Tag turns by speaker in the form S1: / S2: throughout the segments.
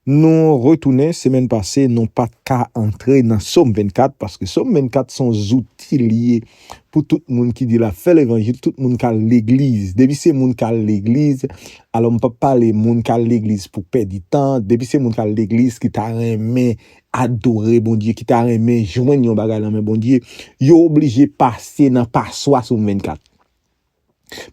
S1: Nou retounen, semèn pase nou pat ka antre nan Som 24 paske Som 24 son zouti li ye pou tout moun ki di lap fè levanjil, tout moun kal legliz. Depi se moun kal legliz, alò m pap pale moun kal legliz pou pèdi tan, depi se moun kal legliz ki ta renmen adore Bondye, ki ta renmen jwenn yon bagay nan men Bondye, yo oblije pase nan paswa Som 24.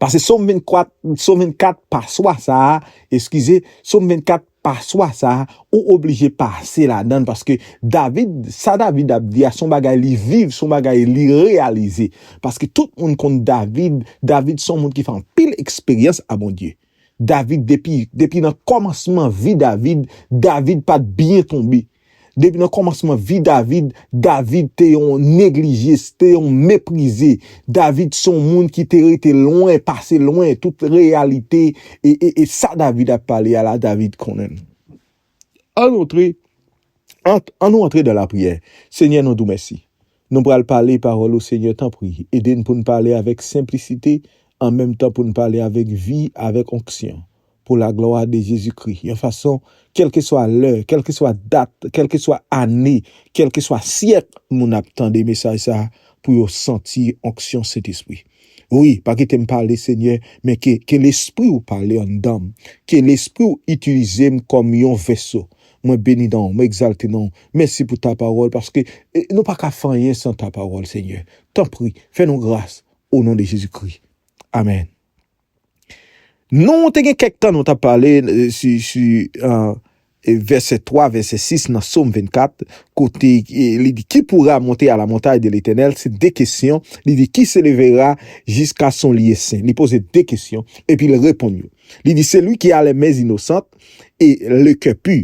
S1: Pase Som 24, Som 24 paswa sa a, eskize, Som 24 paswa sa a, ou oblije pase ladan l paske David, sa David ap di a s on bagay li viv, s on bagay li reyalize. Paske tout moun konn David, David s on moun ki fè anpil eksperyans a Bondye. David depi depi nan kòmansman vi David David pat byen tonbe depi nan kòmansman vi David David te yon neglige se te yon meprize David se yon moun ki te rete lwen pase lwen tout reyalite e e e sa David ap pale a la David konnen l. An notre An nou antre dan la priyè Senyè nou di w mèsi Nou pral pale pawòl ou Senyè tanpri ede n pou n pale avèk senplisite an menm tan pou n pale avèk vi avèk onksyon pou laglwa de Jezi Kri yon fason kèlkeswa lè kèlkeswa dat kèlkeswa ane kèlkeswa syèk moun ap tande mesaj sa pou yo santi onksyon Sentespri. Wi pa kitem pale senyè men ke ke lespriw pale anndanm ke lespriw itilizem kòm yon vèso mwen beni nonw mwen egzalte nonw mèsi pou ta pawòl paske nou paka fè anyen san ta pawòl senyè tanpri fè nou gras o non de jezi kri amèn. Nou te gen kèk tan nou tap pale sou vèsè 3, vèsè 6 nan Som 24 kote li di ki poura monte a la montay de Letènèl se 2 kesyon li di ki se levera jiska son lye sen li poze 2 kesyon epi li reponn yo li di se li ki a lè men inosant e le kè pu.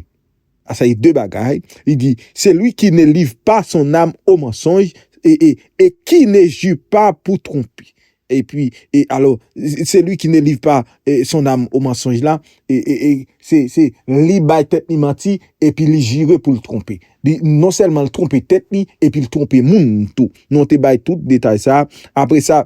S1: a sa e de bagay, li di, Celui qui ne livre pas son âme au mensonge et et et qui ne jure pas pour tromper et puis et alors celui qui ne livre pas son âme au mensonge la et et et se se li bay tèt li manti epi li jire pou l twonpe li non sèlman l twonpe tèt li epi l twonpe moun tou nou te bay tout detay sa apre sa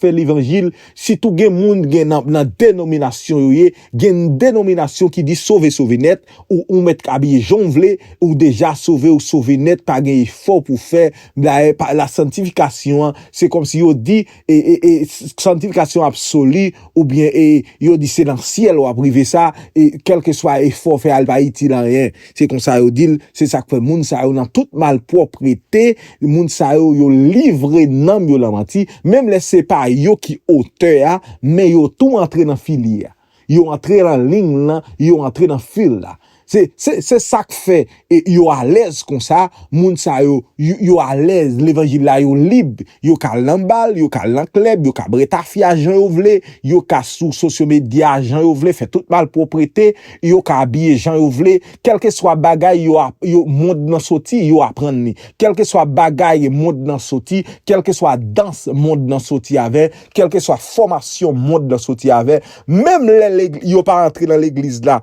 S1: fè levanjil sitou gen moun gen nan nan denominasyon yo ye gen yn denominasyon ki di sove sove nèt ou ou mèt k abiye jan w vle ou deja sove ou sove nèt pa gen efò pou fè dayè pa la santifikasyon an se kòmsi yo di e e e santifikasyon absoli oubyen e yo di se nan syèl w ap rive sa e kèlkeswa efò w fè a li pa itil anyen. Se konsa yo di l, se sa k fè moun sa yo nan tout malpwòprete, moun sa yo, yo livre nanm yo lan manti, menm lè se pa yo ki otè a, men yo tou antre nan file a. Yo antre lan ling lan, yo antre nan fil la. Se, se, se sa k fè e, yo alèz konsa, moun sa yo, yo, yo alèz, levanjil la yo lib, yo ka al lan bal, yo ka al lan klèb, yo ka bre tafya jan yo vle, yo ka sou sosyomedya jan yo vle, fè tout malpwòprete. yo ka abiye jan yo vle, kèlkeswa bagay yo ap, yo, mond nan soti, yo aprann li. Kèlkeswa bagay mond nan soti, kèlkeswa dans mond nan soti avè, kèlkeswa fòmasyon mond nan soti avè, menm lè Legi, yo pa antre nan Legliz la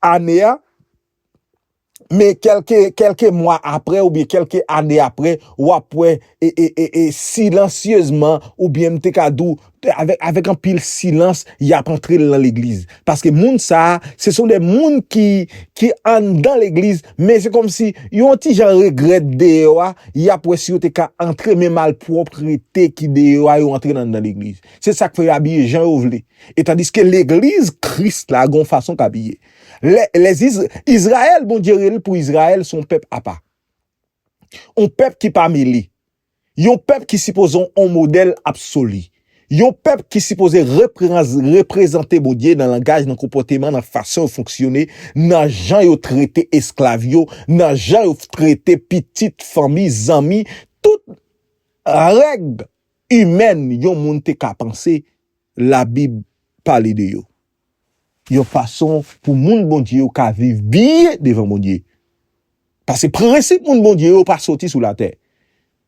S1: ane a, Men kelke kelke mwa apre oubyen kelke ane apre wap wè e e e e silansyezman oubyen m te ka di w avèk avèk anpil silans yap antre l nan legliz. Paske moun sa se son de moun ki ki anndan legliz men se kòmsi yo yon ti jan regrèt deyò a yap wè si yo te ka antre men malpwoprete ki deyò a yo antre l anndan legliz. Se sak fè yo abiye jan yo vle. E tandiske legliz kris la gon fason k abiye. Lè lè is Israël Bondye rele pou Israël son pèp apa. On pèp ki pa mele. Yon pèp ki sipoze on modèl absoli. Yon pèp ki sipoze repranz reprezante Bondye nan langaj, nan konpòteman, nan fason yo fonksyone, nan jan yo trete esklav yo, nan jan yo trete pitit, fanmi, zanmi, tout règ imèn yon moun te ka panse labib pale de yo. yon fason pou moun Bondye yo ka viv byen devan Bondye. Pase prensip moun Bondye yo pa soti sou latè.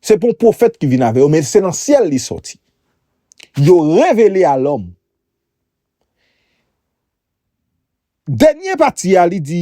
S1: Se pa yon pwofèt ki vin avè yo men se nan syèl li soti. Yo revele a lòm. Dènye pati a li di.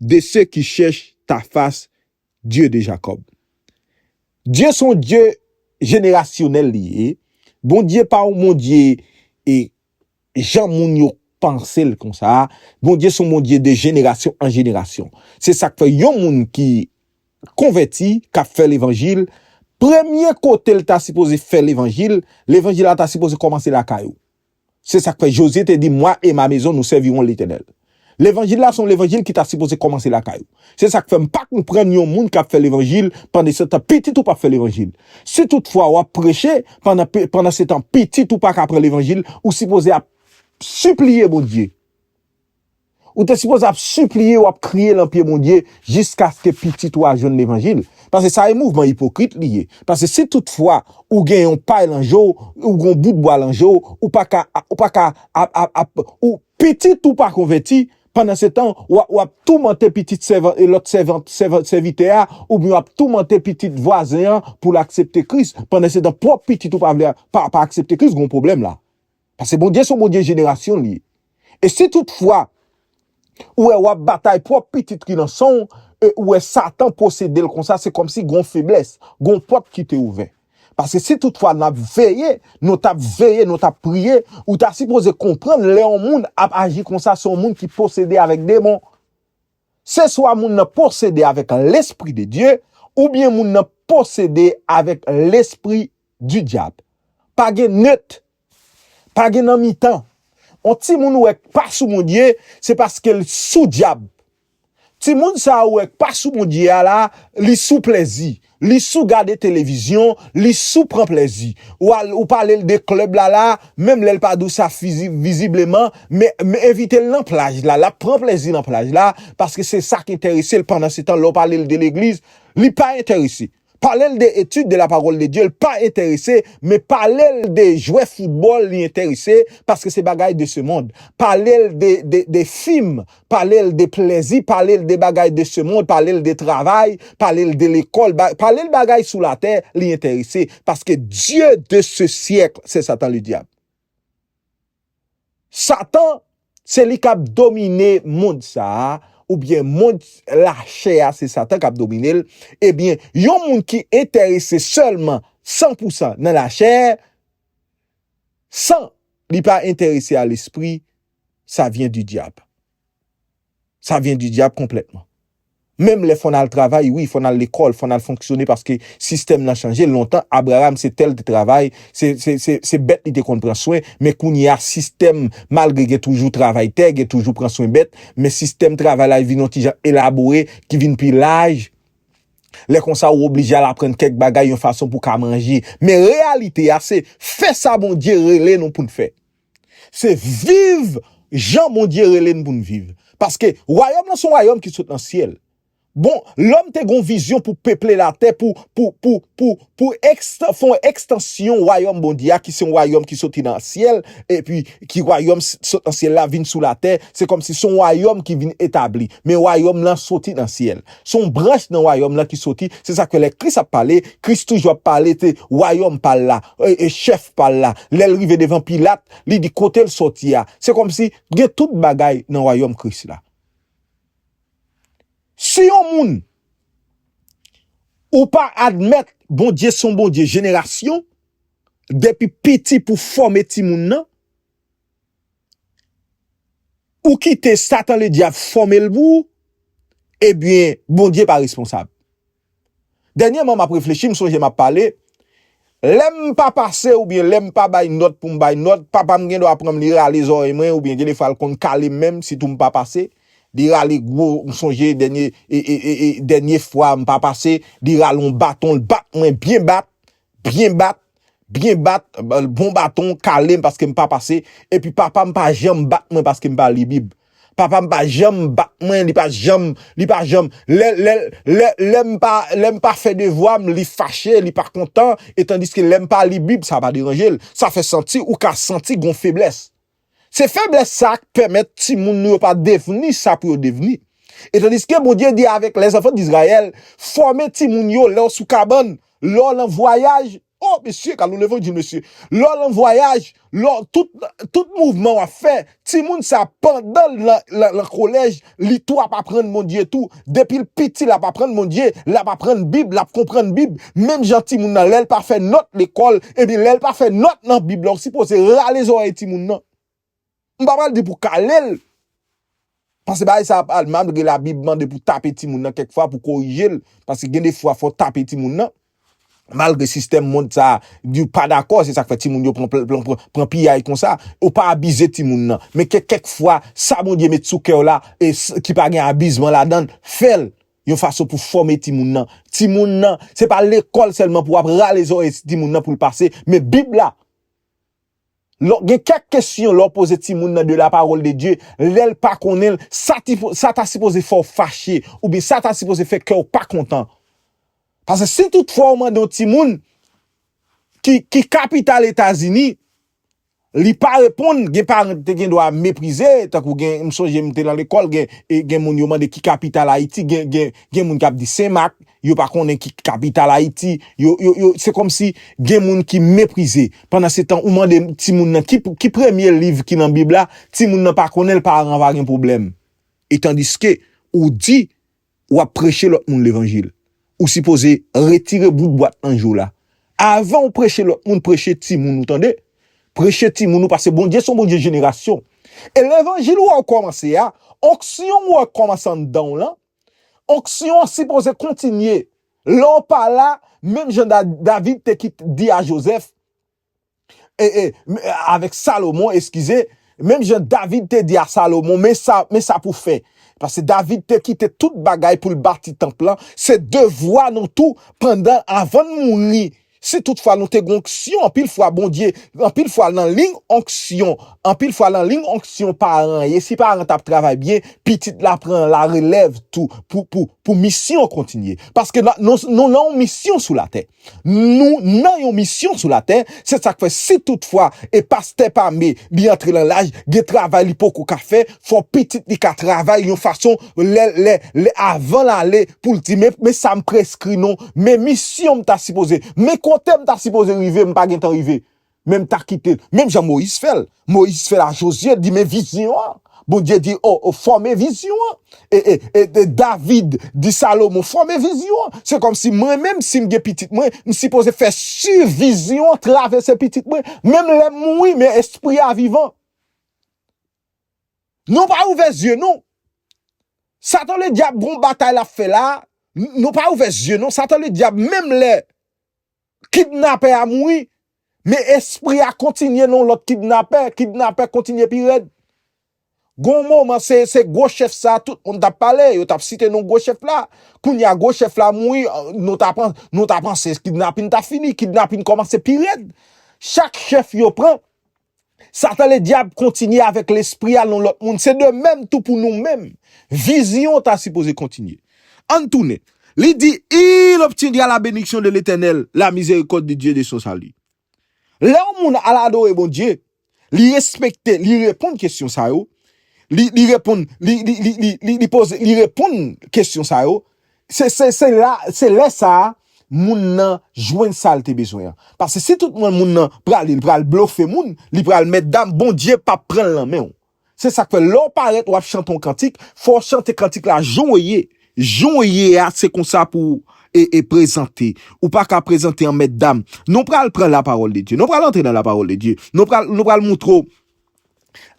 S1: de se ki chèch ta fas, Dye de Jakòb. Dye s on Dye jenerasyonèl li ye, Bondye pa on Bondye e jan moun yo panse l konsa, Bondye s on Bondye de jenerasyon an jenerasyon. Se sa k fè yon moun ki konvèti, k ap fè levanjil, premye kote l ta sipoze fè levanjil, levanjil la ta sipoze kòmanse lakay ou. Se sa k fè, Jozye te di, Mwa e ma mezon, nou sèvirons Letènèl. Levanjil la se yon levanjil ki ta sipoze kòmanse lakay ou. Se sa k fè m pa konprann yon moun k ap fè levanjil, pandesetan pitit ou p ap fè levanjil. Si toutfwa w ap preche, pandan pandansetan pitit ou pa ka pran levanjil, ou sipoze ap sipliye Bondye. Ou te sipoze ap sipliye ou ap kriye lan pye Bondye jiskaske pitit ou a jwenn levanjil. Pase sa e mouvman ipokrit li ye. Pase si tout fwa ou gen yon pay lan je w, ou gen yon bout bwa lan je w, ou pa ka, ou pa ka ap, ap, ap, ou, pitit ou pa konvèti, pandansetan w ap, w ap toumante pitit sèvan, e lòt sèvant, sèvan, sèvitè a, oubyen w ap toumante pitit vwazen an pou l aksepte Kris, pandansetan pwòp pitit ou pa vle, pa, pa aksepte Kris, gen yon pwoblèm la. Pase Bondye son Bondye jenerasyon li ye. E si tout fwa ou wè wap batay pwòp pitit ki nan sanw e ou wè satan posedel konsa se kòmsi gon feblès, gon pòt ki te ouvè. Pase si tout fwa nap veye, nou tap veye, nou tap priye, ou ta sipoze konprann lè yon moun ap aji konsa se yon moun ki posede avèk demon. Se swa moun nan posede avèk lespri de Dye oubyen moun nan posede avèk lespri du diable. Pa gen neut. Pa gen nan mitan. On timoun ou wè k pa sou Bondye, se paske l sou dyab. Timoun sa ou wè k pa sou Bondye a la, li sou plèzi. Li sou gade televizyon, li sou pran plèzi. Ou al ou pale l de club la la, menm lè l pa di w sa fizi vizibleman, men men envite l nan plaj la, l ap pran plèzi nan plaj la, paske se sa k enterese l, pandansetan lè w pale l de legliz, li pa enterese. Palel de etude de la parole de Dieu l pa enterese men palel de jwè football li enterese paske se bagay de ce monde palel de de film palel de plezi palel de bagay de ce monde palel de travay palel de lekol palel bagay sou la tè li enterese paske Dieu de ce siècle se satan le diable. Satan, se li k ap domine mond sa a, oubyen mond lachè a se Satan k ap domine l, ebyen, yon moun ki enterese sèlman san pou san nan lachè, san li pa enterese a lespri, sa vyen di dyab. Sa vyen di dyab konplètman. Menm lè fò n al travay, wi, fò n al lekòl, fò n al fonksyone paske sistèm nan chanje, lontan Abraram se tè l te travay, se bèt li te konn pran swen, men kounye a sistèm, malgre gen toujou travay tè, gen toujou pran swen bèt, men sistèm travay la vin yon ti jan elabore, ki vin pi laj, lè konsa ou oblije al aprann kèk bagay yon fason pou w ka manje. Men reyalite a se fè sa Bondye rele nou pou n fè. Se viv jan Bondye rele n pou n viv. Paske, wayòm lan se yon wayòm ki sot nan syèl. Bon, lòm te gen yon vizyon pou peple latè, pou, pou, pou, pou, pou eksta, fè yon ekstansyon wayòm Bondye a ki se yon wayòm ki soti nan syèl, epi ki wayòm ki sot nan syèl la vin sou latè, se kòmsi se yon wayòm ki vin etabli. Men wayòm lan soti nan syèl. Se yon branch nan Wayòm lan ki soti. Se sa k fè lè Kris ap pale, Kris toujou ap pale de Wayòm pa l la, chèf pa l la. Lè l rive devan Pilat, li di kote l soti a. Se kòmsi gen tout bagay nan Wayòm Kris la. Si yon moun, ou pa admèt Bondye se yon Bondye jenerasyon, depi piti pou fòme timoun nan, ou kite satan le dyab fòmel pou ou ebyen Bondye pa responsab dènyèman map reflechi m sonje map pale lèm pa pase oubyen lèm pa bay nòt poum bay nòt papam gen dwa pranm li rale zòrèy mwen oubyen gen defwa l konn kalem menm sitou m pa pase li rale gwo m sonje dènye e dènye fwa m pa pase li rale yon baton l bat mwen byen bat byen bat Byen bat, bon baton, kale m paske m pa pase, epi papa m pa janm bat mwen paske m pa li bib. Papa m pa janm bat mwen, li pa janm, li pa janm, lè, lè, lè, lè m pa, lè m pa fè devwa m, li fache, li pa kontan, etandiske lè m pa li bib, sa pa deranje l. Sa fè santi, ou ka santi gon feblès. Se feblès sa a k pèmèt timoun nou yo pa devni sa pou yo devni. Etandiske Bondye di avèk lèzanfan Dizrayèl, Fòme timoun yo lè w sou kabann, lè w lan vwayaj, o, mesye, gad yon levanjil, mesye, lè w lan vwayaj, lè w, tout, tout mouvman w ap fè, timoun sa a pandan l lan, lan, lan kolèj, Li tou ap aprann Bondye tou, depil piti lap aprann Bondye, lap aprann bib, lap konprann bib, menm jan timoun nan lèl pa fè nòt lekòl, ebyen lèl pa fè nòt nan bib la ou sipoze rale zòrèy timoun nan, m pa pral di pou kalel, paske bagay sa ap al mal, malgre labib mande pou tape timoun nan kèk fwa pou korijel, paske gen de fwa fò tape timoun nan. Malgre sistèm mond sa a, yo pa dakò, se sa k fè timoun yo pran piyay konsa. Ou pa abize timoun nan, men ke kèk fwa sa Bondye met sou kè w la e ki pa gen abizman ladan l, fè l yon fason pou fòme timoun nan. Timoun nan, se pa lekòl sèlman pou w ap rale zòrèy timoun nan pou l pase, men Bib la. Lò gen kèk kesyon lè w poze timoun nan de la pawòl de Dye, lè l pa konnen l, sa ti sa ta sipoze fè w fache oubyen sa ta sipoze fè kè w pa kontan. Pase si tout fwa w mande yon timoun ki ki kapital Etazini, li pa reponn, gen paran ki te gen dwa meprize, tankou gen m sonje m te lan lekòl gen gen moun yo mande ki kapital Ayiti gen gen gen moun k ap di Sen Mak, Yo pa konnen ki kapital Ayiti. Yo, yo, yo, se kòm si gen moun ki meprize. Pandansetan, ou mande timoun nan ki, ki premye liv ki nan Bib la, timoun nan pa konnen l, paran an va gen pwoblèm. E tandiske, ou di, w ap preche lòt moun levanjil. Ou sipoze retire bout bwat nan je w la. Avan ou preche lòt moun, preche timoun ou, tande! Preche timoun ou, paske Bondye se yon Bondye jenerasyon. E levanjil ou wè w kòmanse a, onksyon ou wè k kòmanse anndan w lan, Onksyon an sipoze kontinye. Lè w pa la, menm jan David te kit di a Jozèf, e, e, avèk Salomon, eskize, menm jan David te di a Salomon, men sa, men sa pou w fè. Paske David te kite tout bagay pou l bati tanp lan, se devwa nou tou, pandan, avan n mouri, Si tout fwa nou te gen onksyon anpil fwa Bondye anpil fwa lan liy onksyon anpil fwa lan liy onksyon paran ye si paran tap travay byen pitit la pran la relèv tou pou pou pou misyon kontinye paske nan nou nou lan yon misyon sou latè nou nan yon misyon sou latè se sak fè si tout fwa e pastè pame li antre lan laj gen travay li poko ka fè fò pitit li ka travay yon fason Lè, lè, lè avan l ale pou l di men, men sa m preskri non, men misyon m ta sipoze, men kote m ta sipoze rive m pa gentan rive, men m ta kite l. Menm jan Moyiz fè l. Moyiz fè l a Jozye, di men vizyon an. Bondye di, o, o, fòme vizyon an. E, e, e, e David di Salomon, fòme vizyon an. Se kòmsi mwen menm si m gen pitit mwen, m sipoze fè si vizyon an travèse pitit mwen. Menm lè m mouri men espri a vivan. Nou pa ouvè zye nou Satan le dyab gon batay lap fè la Nou pa ouvè zye nou Satan le dyab menm lè Kidnapè a mouri Men espri a kontinye nan yon lòt kidnapè Kidnapè kontinye pi rèd Gon moman se se gwo chèf sa tout moun tap pale Yo tap site non gwo chèf la Kounye a gwo chèf la mouri Nou ta panse nou ta panse kidnapin ta fini Kidnapin kòmanse pi rèd Chak chèf yo pran Satan Ledyab kontinye avèk lespri al nan lòt moun, se de menm tou pou nou menm. Vizyon an ta sipoze kontinye. An n tounen. Li di, Il obtiendra la bénédiction de l'Éternel, la miséricorde de Dieu de son salut. Lè yon moun al adore Bondye, li respekte, li reponn kesyon sa yo, li reponn, li, li, li, li, li poze, li reponn kesyon sa yo, Se se se la se lè sa a moun nan jwenn sa l te bezwen an. Pase si tout mwen moun nan prale li pral blofe moun, li pral mètdam Bondye pap pran l nan men w. Se sa k fè lè w parèt w ap chante yon kantik, fò w chante kantik la jan w ye. Jan w ye a se konsa pou w e prezante. Ou pa ka prezante an mètdam. Nou pral pran lapawòl de Dye. Nou pral antre nan lapawòl de Dye. Nou pral nou pral moutre w.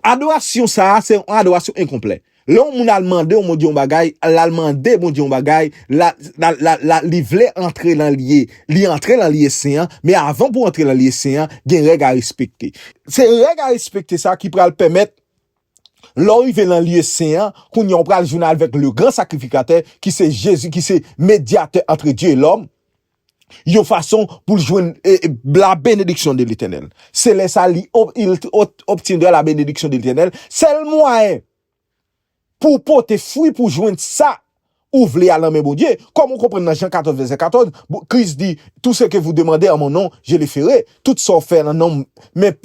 S1: Adorasyon sa a se yon adorasyon enkonplè. Lè yon moun al mande yon Bondye yon bagay, l al mande Bondye yon bagay, li vle antre nan lye, li antre nan lye sen an, men avan pou antre nan lye sen an, gen règ a respekte. Se règ a respekte sa a ki pral pèmèt lè w rive nan lye sen an, kounye a ou pral jwenn avèk le gran sakrifikatè ki se Jezi, ki se medyatè antre Dye e lòm, yon fason pou l jwenn la benediksyon de Letènèl. Se lè sa li obtiendra la benediksyon de Letènèl. Sèl mwayen pou w pote fwi pou w jwenn sa ou vle a nan men Bondye, kòm ou konprann nan Jan 14 vèsè 14, Kris di, Tou se ke vou demande an mon non, je le ferai, tout sa w fè nan non m. Men,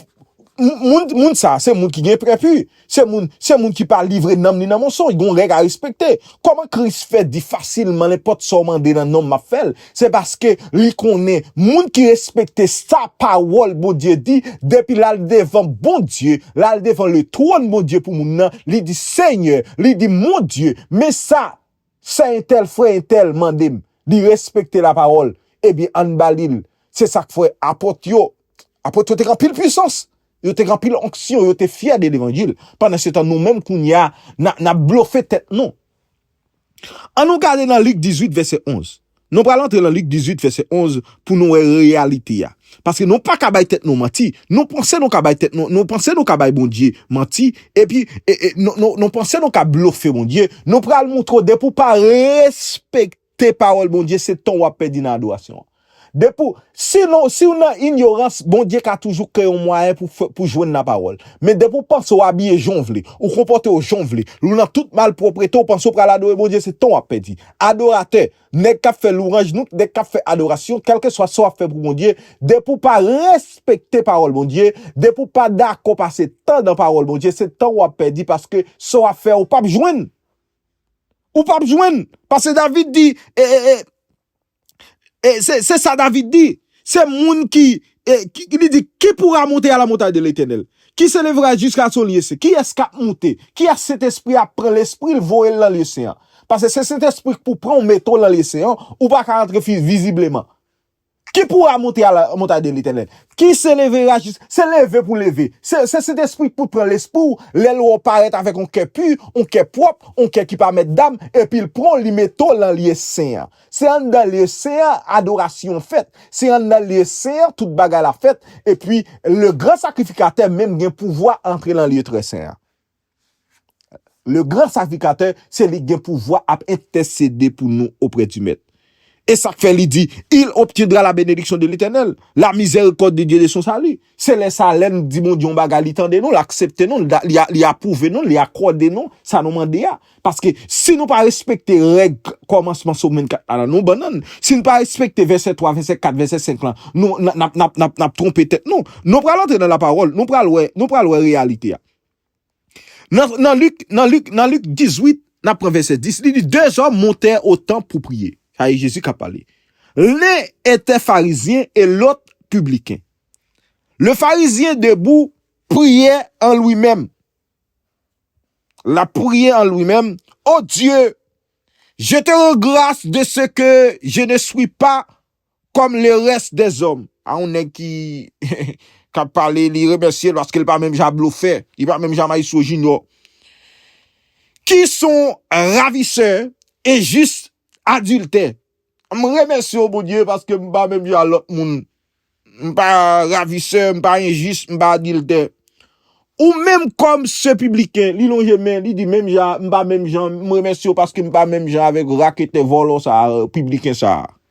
S1: moun sa a se moun ki gen prèpu. Se moun, se moun ki pa livre nanm li nan monsonj, gon règ a respekte. Kòman Kris fè di fasilman nenpòt sa w mande nan non m m'ap fè l? Se paske li konnen moun ki respekte sa pawòl Bondye di, depi l'al devan Bondye, l'al devan le twòn Bondye pou moun nan, li di, Senyè, li di, Mon Dye, men sa Sè entèl frè entèl mande m li respekte lapawòl ebyen ann ba li l se sa k fè apot yo apot yo te gen anpil puisans yo te gen anpil onksyon yo te fyè de levanjil pandansetan nou menm kounye a n ap blofe tèt nou an nou gade nan lik 18 vèsè 11. Nou pral antre nan Lik 18 vèsè 11 pou nou wè reyalite a. Paske nou pa ka bay tèt nou manti, nou panse nou ka bay tèt nou, nou panse nou ka bay Bondye manti, epi nou panse nou ka blofe Bondye, nou pral montre w depi w pa respekte pawòl Bondye se tan w ap pèdi nan adorasyon an. Depi w, si nou, si w nan inyorans Bondye ka toujou kreye yon mwayen pou fè, pou jwenn nan pawòl. Men depi w panse w abiye jan w vle, ou konpòte w jan w vle, ou nan tout malpwoprete ou panse w pral adore Bondye se tan w ap pèdi. Adoratè, nèg kap fè louranj nou, nèg kap fè adorasyon, kèlkeswa sa wap fè pou Bondye, depi w pa respekte pawòl Bondye, depi w pa dakò pase tan nan pawòl Bondye, se tan wap pèdi paske sa wap fè a ou pap jwenn. Ou pap jwenn. Paske David di, e, e, e. Se sa David di, Se moun ki, li di, Ki poura monte a la montay de Letènèl? Ki se levera jiska so lye sen? Kiyès k'ap monte? Kiyès Sentespri a ap pran lespri l' voye l' lan lye sen an? Pase se Sentespri k' pou pran ou mete w' lan lye sen an, ou pa ka antre vizibleman. Ki poura monte a la montay de Letènèl? Ki se levera jis, se leve pou leve, se Sentespri k' pou pran lespri ou lè l' wè w' parèt avèk yon kè pu, yon kè pwòp, yon kè ki pa mèt dam, epi l' pran w' li mete w' lan lye sen an. Se anndan lye sen an adorasyon an fèt, se anndan lye sen an tout bagay la fèt, epi le gran sakrifikatè menm gen pouvwa antre lan lye trè sen an. Le gran sakrifikatè se li ki gen pouvwa ap entèsede pou nou oprè di Mèt. E sa k fè li di, Il obtiendra la bénédiction de l'Éternel, la miséricorde de Dieu de son salut. Se lè sa lè n di Bondye yon bagay li tande nou, l aksepte nou, li apwouve nou, li akòde nou sa nou mande a. Paske si nou pa respekte règ kòmansman Som 24 la nan nou bannann, si n pa respekte vèsè 3, vèsè 4, vèsè 5 lan, nou n ap twonpe tèt nou. Nou pral antre nan lapawòl, nou pral wè, nou pral wè reyalite a. Nan nan Lik, nan Lik, nan Lik 18, n ap pran vèsè 10, li di, Dezòm montè o tanp pou priye. Sa e Jezi k ap pale. Len etè farizyen e lòt pibliken. Le farizyen debou priyè an lwi menm. L ap priye an lwi menm, O Dye, je te ran gras de se ke je ne swi pa Kòm le rès dè zòm. A yon nèg ki kap pale li remèsye l paske l pa menm jan a blofè, li pa menm jan a Maestro Junior ki s on ravisè e jis adiltè. M remèsye w Bondye paske m pa menm jan a lòt moun. M pa ravisè, m pa enjis, m pa adiltè. Ou menm kòm se pibliken, li lonje men, li di menm jan a, m pa menm jan, m remèsye w paske m pa menm jan avèk raketè vòlò sa a, pibliken sa a.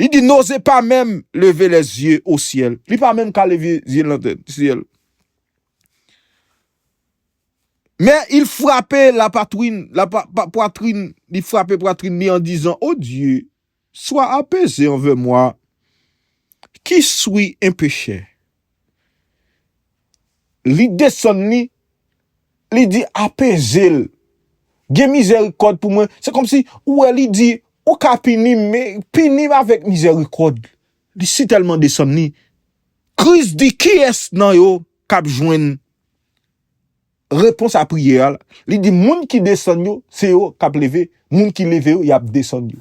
S1: Li di Noze pa menm leve lè zye o syèl. Li pa menm ka leve zye nan tè syèl. Men il frape la patwin, la pwatrin, li frape pwatrin li an dizan, O Dye, swa apeze anvè mwa, ki swi en pechè. Li desann li, li di, Apeze l. Gen mizèrikòd pou mwen. Se kòmsi, ou wè, li di, Ou ka pini m, men, pini m avèk mizèrikòd. Li sitèlman desann li. Kris di, Kiyès nan yo k ap jwenn? Repons a priyè a, li di moun ki desann yo, se yo k ap leve, moun ki leve yo, y ap desann yo.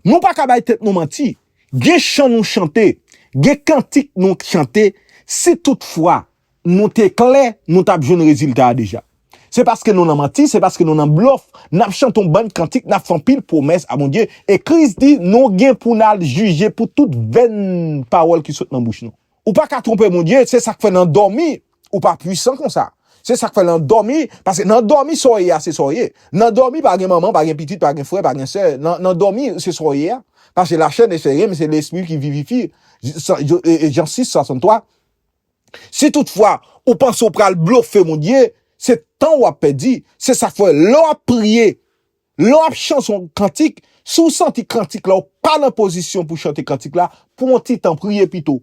S1: Nou pa ka bay tèt nou manti, gen chan nou chante, gen kantik nou chante, si tout fwa nou te klè, nou t ap jwenn rezilta a deja. Se paske nou nan manti, se paske nou nan blòf, n ap chante yon bann kantik, n ap fè anpil pwomès a Bondye, e Kris di nou gen pou n al jije pou tout venn pawòl ki sot nan bouch nou. Ou pa ka twonpe Bondye, se sak fè nan dòmi ou pa pwisan konsa. Se sak fè nan dòmi, paske nan dòmi sa w ye a se sa w ye. Nan dòmi pa gen manman, pa gen pitit, pa gen frè, pa gen sè, nan dòmi se sa w ye a. Paske la chè ne fè ryen men se lespri ki vivifi, Jan 6, 63. Si tout fwa ou panse ou pral blofe Bondye, se tan w ap pèdi, se sak fè lè w ap priye Lè w ap chanse yon kantik, si w santi kantik la ou pa nan pozisyon pou chante kantik la, pran yon ti tan priye pito.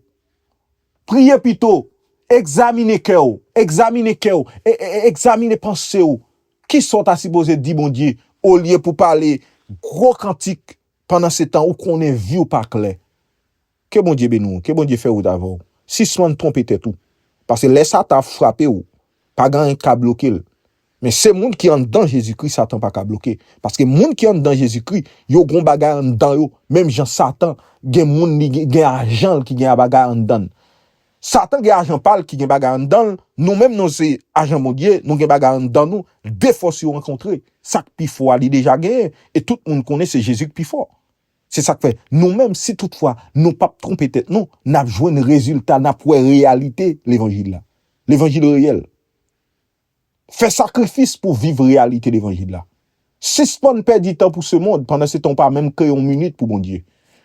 S1: Priye pito, egzamine kè w, egzamine kè w, egzamine panse w, kisa w ta sipoze di Bondye olye pou pale gwo kantik pandansetan ou konnen vi w pa klè. Ke Bondye beni w, ke Bondye fè wout avè w. Sispann twonpe tèt ou. Pase lè Satan ap frape w, pa gen anyen k ka bloke l. Men se moun ki anndan Jezikri Satan pa ka bloke. Paske moun ki anndan Jezikri, yo gon bagay anndan yo, menm jan Satan gen moun li gen ajan l ki gen bagay anndan l. Satan gen ajan pa l ki gen bagay anndan l, nou menm nou se ajan Bondye, nou gen bagay anndan nou, de fòs yo rankontre. Sa k pi fò a li deja genyen, e tout moun konnen se Jezi k pi fò. Se sa k fè, nou menm, si toutfwa nou pap twonpe tèt nou, n ap jwenn rezilta, n ap wè reyalite levanjil la. Levanjil reyèl. Fè sakrifis pou w viv reyalite levanjil la. Sispann pèdi tan pou semond, pandansetan ou pa menm kreye yon minit pou Bondye.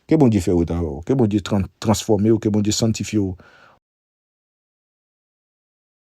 S1: Ke Bondye fè wout avè w. Ke Bondye transfòme w. Ke Bondye sanntifye w.